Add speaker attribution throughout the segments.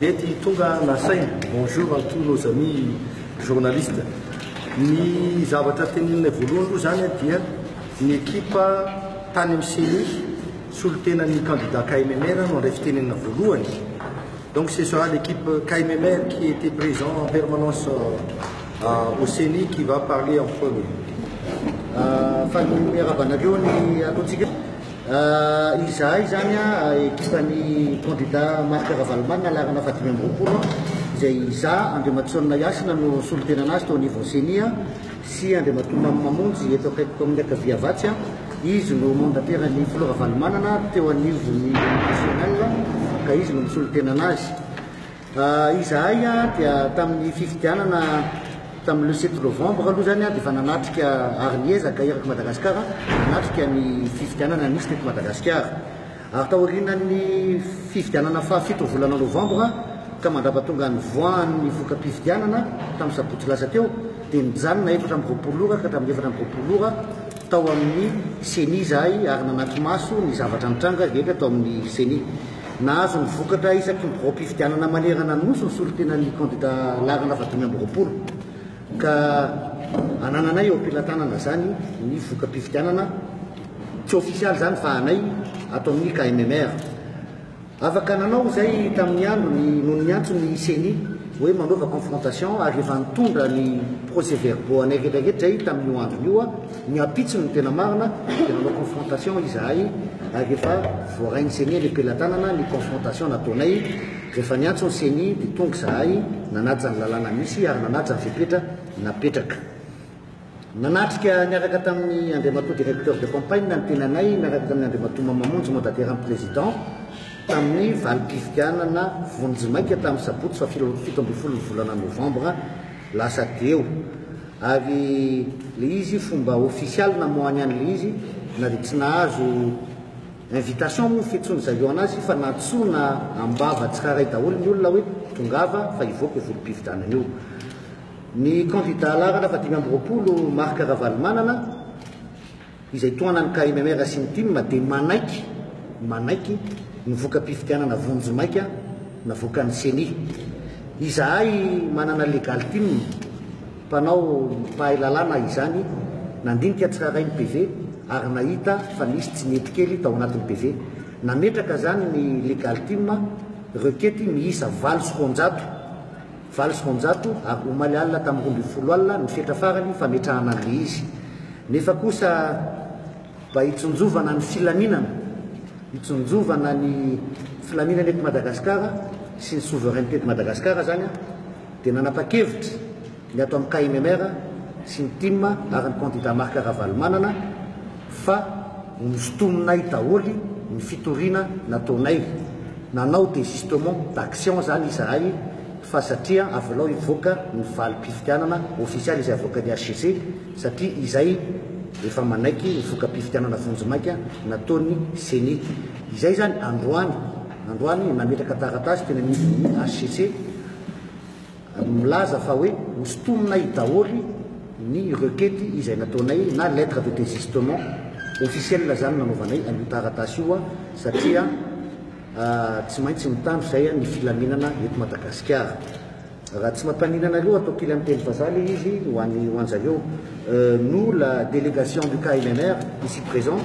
Speaker 1: Mety tonga nasaina. Bonjour à tous nos amis journalistes. Ny zavatra teneninay voalohany aloha izany dia ny ekipa tany amin'ny CENI solontenan'ny candidat KMMR no handray fitenenana voalohany. Donc ce sera l'équipe KMMR qui était présent en permanence euh, au CENI qui va parler en premier. Euh, fa ny miarabanareo ny ataontsika Izahay izany ekipan'ny kandida Marc Ravalomanana laharana fahadimy amby roapolo izay izaho, Andriamatosonona Yasina no solontenana azy teo anivon'ny ceni sy Andriamatoa Mamy Mamonjy eto akaikiko amin'ny ankavia Havatsa, izy no mandampiran'ny filoha Ravalomanana teo anivon'ny nationale ka izy no misolontenana azy. Izahay dia tamin'ny fifidianana tamin'ny le sept novembre aloha izany dia efa nanatrika ary niezaka eraky Madagasikara nanatrika ny fifidianana nisy teto Madagasikara. Ary taorianan'ny fifidianana fahafito ny volana novembre ka mandrapatonga ny voan'ny voka-pifidianana tamin'ny sabotsy lasa teo dia nijanona efatra amby roapolo ora ka hatramin'ny efatra amby roapolo ora tao amin'ny ceni izahay ary nanatri-maso ny zavatra nitranga rehetra tao amin'ny ceni. Nahazo ny vokatra isaky ny biraom-pifidianana manerana ny Nosy ny solontenan'ny kandida laharana fahadimy amby roapolo, ka anananay eo am-pelatanana izany ny voka-pifidianana, tsy ofisialy izany fa anay ato amin'ny KMMR. Afaka nanao izay tamin'ny androny no niantso ny Ceni hoe manaova confrontation ary efa nitondra ny procès-verbaux anay rehetra rehetra izay tamin'io androny io. Ny ampitsony no tena marina dia nanao confrontation izahay ary rehefa voarain'ny ceni anie pelatanana ny confrontation nataonay rehefa niantso ny ceni dia tonga izahay nanaja ny lalàna misy ary nanaja ny fepetra napetraka nanatrika niaraka tamin'ny Andriamatoa directeur de campagne ny tenanay miaraka tamin'ny Andriamatoa Mamamonjy mandataire ny président tamin'ny valim-pifidianana vonjimaika tamin'ny sabotsy fahafito ambin'ny folo ny volana novembre Lasa dieu. Ary le izy fomba official namoahany any le izy na dia tsy nahazo invitation moa fitsony zareo anazy fa nantsoina ambava tsiraray daholo ny olona hoe tongava fa hivoaka io volompifidianana io. Ny candidat laharana fahadimy amby roapolo Marc Ravalomanana, izay tohanan'ny KMMR sy ny tim dia manaiky manaiky ny voka-pifidianana vonjy maika navoakan'ny Ceni. Izahay manana legal tim mpanao mpahay lalàna izany nandinika tsirairay ny PV ary nahita fa nisy tsy nety kely tao anatin'ny PV. Nametraka izany ny legal tim rekety miisa valo sy roanjato. Valo sy roanjato ary omaly alina tamin'ny roa ambin'ny folo alina no fetra farany fametrahana an'ilay izy. Nefa kosa mba hitsinjovana ny filaminana, hitsinjovana ny filaminana eto Madagasikara sy ny souveraineté de Madagascar izany dia nanapa-kevitra ny ato amin'ny KMMR sy ny tim ary ny kandida Marc Ravalomanana, fa nosintominay daholo ny fitoriana nataonay, nanao desistement d'action zany izahay fa satria avelao hivoaka ny valim-pifidianana ofisialy izay avoakan'ny HCC satria izay efa manaiky ny voka-pifidianana vonjimaika nataon'ny Ceni. Izay zany androany androany nametraka taratasy teny anivon'ny HCC. Milaza fa hoe hosintominay daholo ny requete izay nataonay na lettre de desistement officielle zany nanaovanay an'io taratasy io satria tsy maintsy mitandro izay ny filaminana eto Madagasikara. Raha tsy mampaninona anareo atao kely amin'ny teny vazaha le izy ho an'ny ho anjareo. Nous la délégation du KNMR ici présente,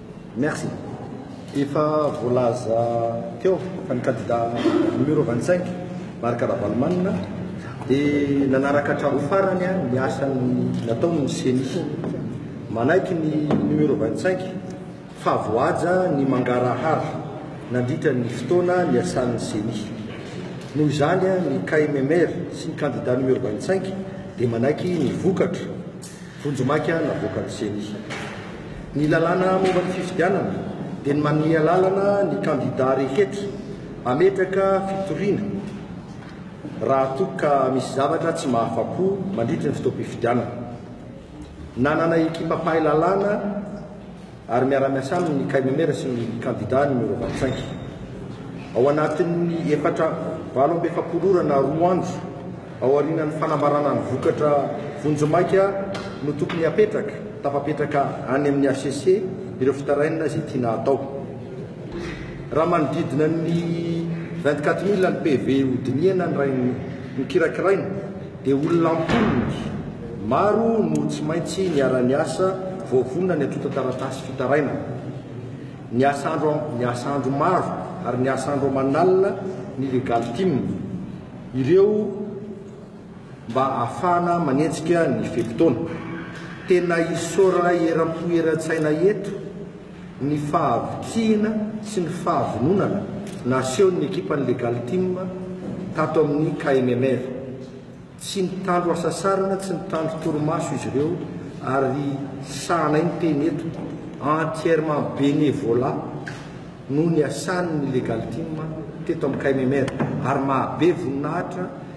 Speaker 1: Merci.
Speaker 2: Efa voalaza teo fa ny kandida numéro vingt cinq Marc Ravalomanana dia nanaraka hatramin'ny farany ny asa nataony ny ceni. Manaiky ny numéro vingt cinq fa voahaja ny mangarahara nandritra ny fotoana niasan'ny ceni. Noho izany ny KMMR sy ny kandida numéro vingt cinq dia manaiky ny vokatra. Vonjimaika navoakan'ny Ceni. Ny lalàna momba ny fifidianana dia ny manome alalana ny kandidà rehetra hametraka fitoriana raha toa ka misy zavatra tsy mahafa-po mandritra ny fotoam-pifidianana. Nanana ekipa mpahay lalàna ary miara-miasa aminy ny Kainomera sy ny kandidà numéro vingt-cinq. Ao anatin'ny efatra valo amby efapolo ora na roa andro aorianan'ny fanambarana ny vokatra vonjimaika no tokony hapetraka, tafapetraka any amin'ny hcc ireo fitarainana izay tiana hatao. Raha manodidina ny vingt-quatre mille ny PV hodinihana ny rainy nokirakiraina dia olona am-polony maro no tsy maintsy niara-niasa voavonona ny antontan-taratasy fitarainana. Niasa andro niasa andro maro ary niasa andro aman'alina ny Legal Team ireo mba ahafahana manenjika ny fe-potoana. Tena isaora eram-po eran-tsaina eto. ny fahavitrihina sy ny fahavononana nasehon'ny ekipan'ny Legal Team tato amin'ny KMMR. Tsy nitandro hasasarana, tsy nitandro torimaso izy ireo ary sahanay miteny eto, entièrement bénévolat no niasan'ny Legal Team teto amin'ny KMMR ary mahabe voninahitra.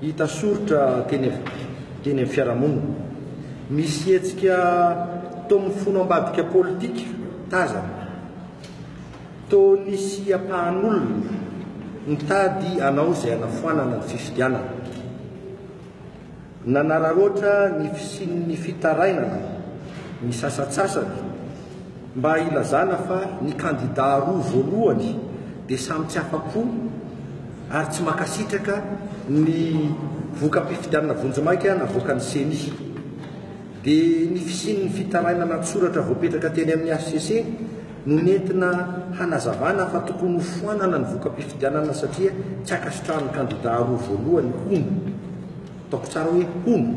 Speaker 2: Hita soritra teny teny amin'ny fiarahamonina. Misy hetsika toa mifono ambadika politika tazana. Toa nisy ampahan'olona nitady hanao izay hanafoanana ny fifidianana. Nanararaotra ny fisian'ny fitarainana ny sasantsasany. Mba ilazana fa ny kandida roa voalohany dia samy tsy afa-po ary tsy mankasitraka ny voka-pifidianana vonjimaika navoakan'ny Ceni. Dia ny fisian'ny fitarainana an-tsoratra voapetraka teny amin'ny hcc no nentina hanazavana fa tokony ho foanana ny voka-pifidianana satria tsy ankasitrahan'ny kandida roa voalohany hono. Ataoko tsara hoe hono.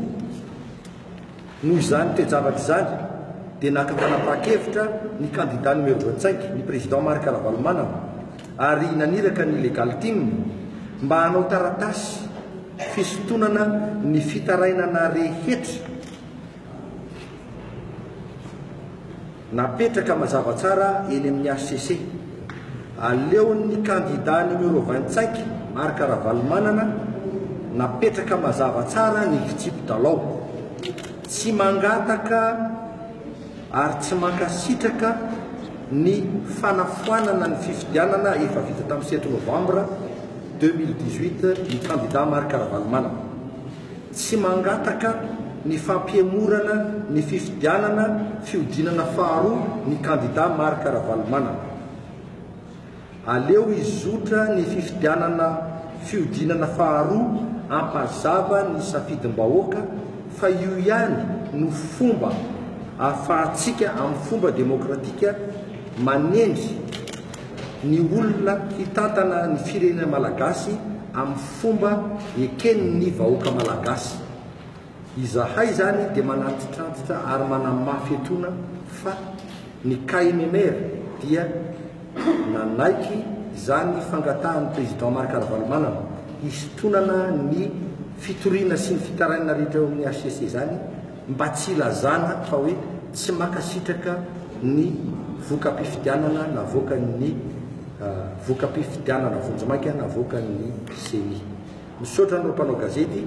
Speaker 2: Noho izany toe-javatra izany dia naka fanapahan-kevitra ny kandida numéro voatsaiky, ny président Marc Ravalomanana, ary naniraka ny Legal Team mba hanao taratasy fisintonana ny fitarainana rehetra. Napetraka mazava tsara eny amin'ny hcc. Aleon'ny kandida numéro vingt cinq, Marc Ravalomanana, napetraka mazava tsara ny fitsipi dalao. Tsy mangataka ary tsy mankasitraka ny fanafoanana ny fifidianana efa vita tamin'ny sept novambra deux mille dix huit ny kandida Marc Ravalomanana. Tsy mangataka ny fampihemorana ny fifidianana fihodinana faharoa ny kandida Marc Ravalomanana. Aleo hizotra ny fifidianana fihodinana faharoa hampazava ny safidim-bahoaka fa io ihany no fomba ahafahantsika amin'ny fomba demokratika manendry ny olona hitantana ny firenena malagasy amin'ny fomba eken'ny vahoaka malagasy. Izahay izany dia manantitrantitra ary manamafy etoana fa ny KMMR dia nanaiky izany fangatahan'ny Président Marc Ravalomanana hisintonana ny fitoriana sy ny fitarainana rehetra eo amin'ny hcc izany, mba tsy hilazana fa hoe tsy mankasitraka ny voka-pifidianana navoakan'ny voka-pifidianana vonjimaika navoakan'ny ceni. Misaotra anao mpanao gazety.